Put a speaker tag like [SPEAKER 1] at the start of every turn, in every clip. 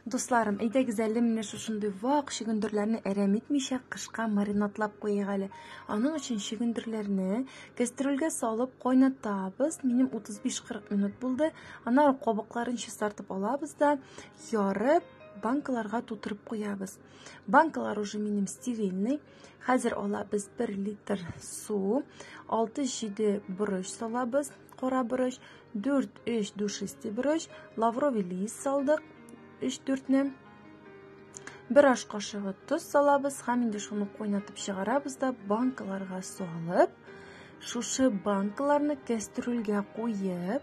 [SPEAKER 1] Дусларым, әйдәгез әле менә шушындый вак чөгендерләрне әрәм итмичә кышка маринадлап куйыйк әле. Аның өчен чөгендерләрне кәстрүлгә салып кайнатабыз. Минем 35-40 минут булды. Аннары кабыкларын чистартып алабыз да ярып банкаларга тутырып куябыз. Банкалар уже минем стерильный. Хәзер алабыз 1 литр су, 6-7 борыч салабыз, кара борыч, 4-3 душистый борыч, лавровый лист салдык, 3-4-не. Бер аш кашыгы тоз салабыз һәм инде шуны кайнатып чыгарабыз да банкаларга салып, шушы банкаларны кәстрүлгә куеп,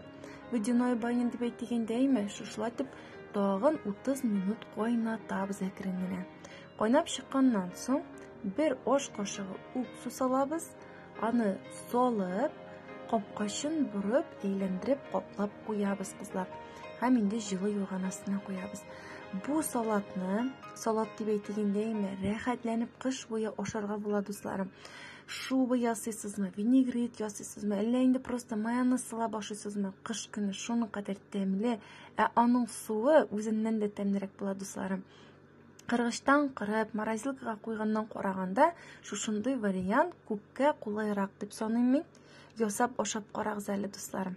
[SPEAKER 1] водяной баня дип әйтегәндәйме, шушылатып тагын 30 минут кайнатабыз әкрен генә. Кайнап чыкканнан соң, бер аш кашыгы уксус салабыз, аны салып, капкачын борып, әйләндереп, каплап куябыз, кызлар. Һәм инде җылы юрган астына куябыз. Бу салатны, салат дип әйтик инде, әйме, рәхәтләнеп кыш буе ашарга була, дусларым. Шуба ясыйсызмы, винегрет ясыйсызмы, әллә инде просто майонез салап ашыйсызмы? Кыш көне шуның кадәр тәмле, ә аның суы үзеннән дә тәмлерәк була, дусларым. Кыргычтан кырып, морозилкага куйганнан караганда, шушындый вариант күпкә кулайрак дип саныйм мин. Ясап ашап карагыз әле, дусларым.